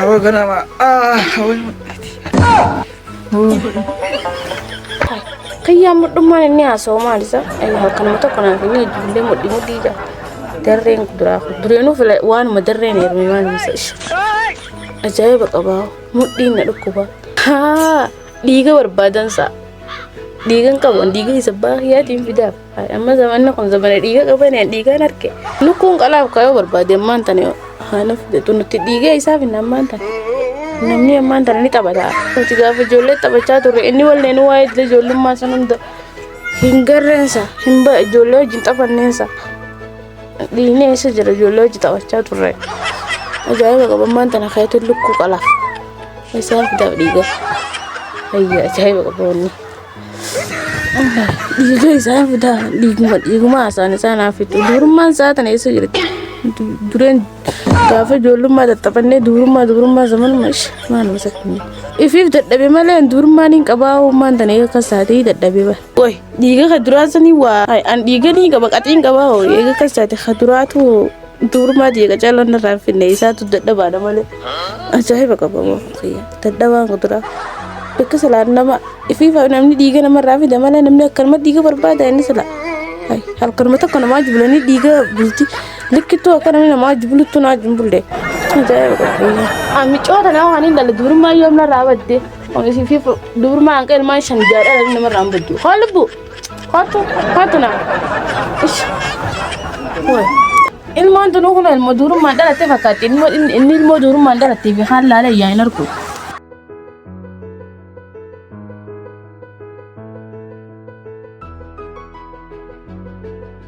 Awwa ganama. Ah, awwa mudhati. Kayyaa mudhummaan inni haasa'u maal isa? Ayyaa halkanuma tokko naaf inni ijoollee mudhi mudhii jaa. Darreen kuduraa kun dureenuu fila waanuma darreen heerumee maal misa ishe. Ajaa'iba qabaa mudhiin na dhukkuba. Haa dhiiga barbaadan sa'a. Dhiigan qaban dhiiga isa baay'aatiin fidaaf. Amma zamanni kun zamana dhiiga qabaneen dhiigaan harke lukkuun qalaaf kayoo barbaade ammaan tane haanuuf jetu nuti dhiiga isaaf hin ammaan tane. Namni ammaan tane ni taphata. Nuti gaafa ijoollee taphachaa turre inni walleen waa'ee iddoo ijoollummaa san hunda hin garreensa hin ba ijoollee wajjin taphanneensa. Dhiigni eessa jira ijoollee wajjin taphachaa turre. Ajaa'iba qaba ammaan tana kayetu lukkuu qalaaf. Isaaf daaf dhiiga. Ayyaa ajaa'iba qaba wanni. Dhiiga isaa fidaa dhiiguma dhiiguma haasaan isaa naaf fixu dubrummaan isaa tana eessa jirti dureen gaafa ijoollummaa tattaphannee dubrummaa dubrummaa zamanuma ish maaluma sakkannee ifiif dadhabe malee dubrummaan hin qabaa uumaan tana eega akkas taatee dadhabe ba qoy dhiiga ka duraa sanii waa an dhiiga ni qaba qaxiin qabaa hoo eega akkas taate ka duraatu Duurumaa jeeqa calloon narraa hin finne isaatu dadhabaadha malee ajaa'iba qabamoo kiyya dadhabaan kuduraa bakka salaan nama ifiifa namni dhiiga namarraa fida malee namni akkanuma dhiiga barbaada inni sila Hai, halkanuma tokko namaa jibulanii dhiiga bulti likkittuu akka namni namaa jibuluttu naa jimbulle ajaa'iba qabamoo. Amicoo tanaa waan hin dhalle duurumaa yoom narraa badde. Isiifi duurumaa hanqa ilmaan shan jaadhaa namni namarraa hin baddu. Haa lubbu. Kottu, kottu na. Ish. Kun. Ilmoon tunuu kun ilmoo duurummaan dhalatte fakkaatti. Ilmoo- Inni inni ilmoo duurummaan dhalattee fi kaan laalee yaa hin argu.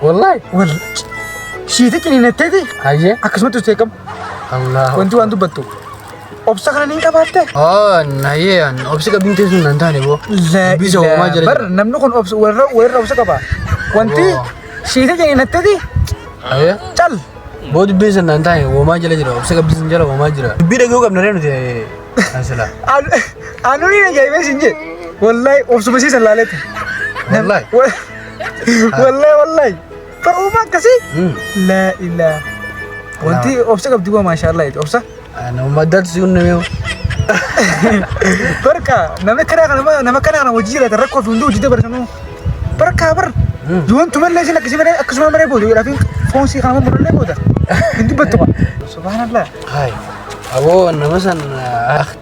Wallahi. Wallahi. Shiita ciniinatteeti. Hayyee. Akkasumatti usee qabu. Allah. Wanti waan dubbattu. Obsa kana ni qabaatte. Oh, hayyee an obsi qabin teessu nan taane boo. Bisa uumaa jira. Bar namni kun obsa warra warra obsa qaba. Wanti Oh. shiita ciniinatteeti. Hayyee. Cal. Boo dubbiin san nan taane uumaa jira jira obsi qabin sin jira uumaa jira. Dubbii dhaguu qabna ree nuti. Asila. Anu ni na jaibee sin je. Wallahi obsuma siisan laaleetti. Wallahi. Wa- Wallahi wallahi. Ta'uuma akkasii. La ilaa. Wanti obsa qabdi waa maashaallah jechuudha. Obsa. Nama dadsi hunna yoo. Barka nama kana kana nama kana kana hojii jiraata rakkoo fi hunduu hojii dabarsanuu. Barka bar. Yoon tumallee isin akkasii malee akkasuma malee booda jedhaa fi foon sii kana murallee booda. Hin dubbattu. Subhaanallah. Hai. Abo nama san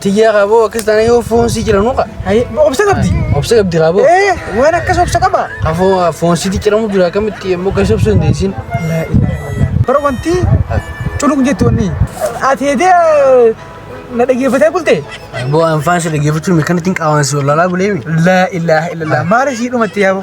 tiyya qabo akkas taana yoo foon si jira nuqa. Hai, obsa qabdi. Obsa qabdi qabo. Eh, waan akkas obsa qaba. Qafoo foon si jiramu jira akkamitti immoo gasi obsa hin deessin. La ilaha illallah. Bara wanti culuk jetti wanni. Ati hedee na dhageeffatee bulte. Abo anfaan si dhageeffachuun mirkanatti hin qaawansi wallalaa buleemi. La ilaha illallah. Maali sii dhumatti yaabo.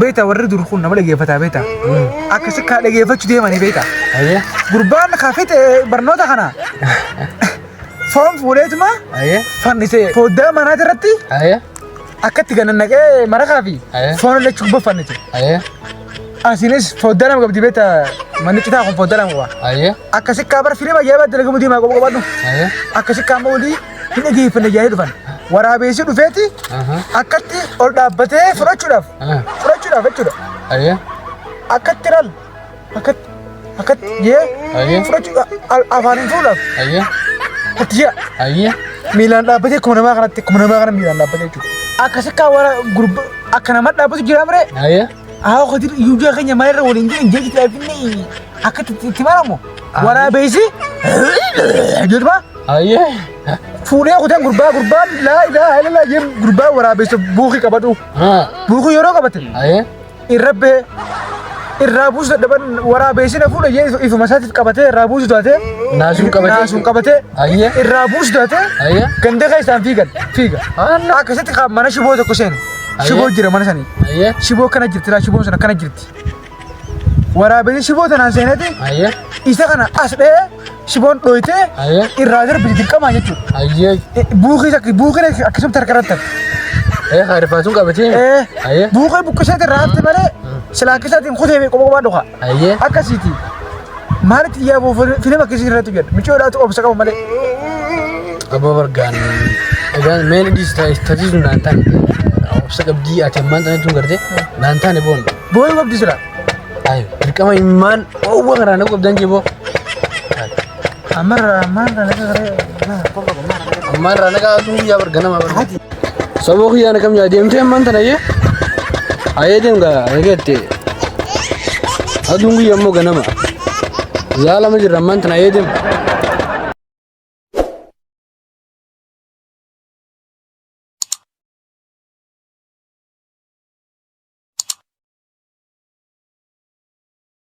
beektaa warri dur kun nama dhageeffataa beektaa akkasi kaa dhageeffachuu deemanii beektaa Ayyee. gurbaan kaa fixe barnoota kana foon fuudheetuma Ayyee. fannise foddaa manaa irratti Ayyee. akkatti gannannaqee marakaa fi Aye. foon illee cubboo fannise Ayyee. asiinis foddaa lama qabdi beektaa manni citaa kun foddaa lama qaba Ayyee. akkasi kaa bara firiima ajaa'ibaa dalagamu deemaa qofa qabadhu Ayyee. akkasi kaa amma olii hin dhageeffanne jedhanii dhufan. Waraabeessi dhufeeti akkatti ol dhaabbatee fudhachuudhaaf fudhachuudhaaf jechuudha. Ayyee. Akkatti laal akkatti akkatti jee Ayyee. fudhachuudhaaf al- afaaniin fuudhaaf Ayyee. akkatti jira. Ayyee. Miilaan dhaabbatee akkuma namaa kanatti akkuma namaa kana miilaan dhaabbatee jechuudha. Akkasi akka wara gurba akka nama dhaabbatu jira mire Ayyee. Haa hojiin iyyuu keenya maalirra waliin jiru hin jeejitu finni akka itti maramu waraabeessi jedhuma Ayyee. fuudhee kutan gurbaa gurbaa laa ilaa ilaa jeen gurbaa waraabeessa buukii qabadhu Haa. buukii yeroo qabate Ayyee. irra bee irraa buusu dadhaban waraabeessina fuudha jee ifuma isaatiif qabatee irraa buusu taatee Naasuun qabatee. naasuun qabatee Ayyee. irraa buusu taatee Ayyee. ganda keessaan fiigan fiiga Haala. akkasitti qaama mana shiboo tokko seenu. Shiboo jira mana sanii. Ayyee. Shiboo kana jirti laa shiboon sana kana jirti. Waraabessi shiboo tanaan seeneeti Ayyee. isa kana as dha'ee shiboon dhooytee Ayyee. irraa darbiti dirqamaa jechuudha. Ayyee. Buukiis akka buukiin akkasumatti harka irratti hafe. Ee haa rifaasuun qabatee. Eh, Ayyee. buukee buqqisee irraa hafte malee silaa keessaatiin kutee fi qophoo dhufa. Ayyee. Akkasiiti. Maalitti yaa boo filim akkasii irratti jedha. Micoo dhaatu obsa qabu malee. Abba bargaan egaa meel indis taasisu naan taane obsa qabdii ati ammaan tana tun garte naan taane boon. Booyu qabdi sila. Ayi dirqama immaan oowwa karaa na qabdan jee boo. Amarra maan kana garee. Ammaan irraa nagaa asuu guyyaa barga nama barga. Saboo kiyyaa na kam yaa deemtee ammaan tana yee. Ayee deem gaa eegatte. Aduun guyyaa immoo ganama. Zaalama jirra ammaan tana ayee deem.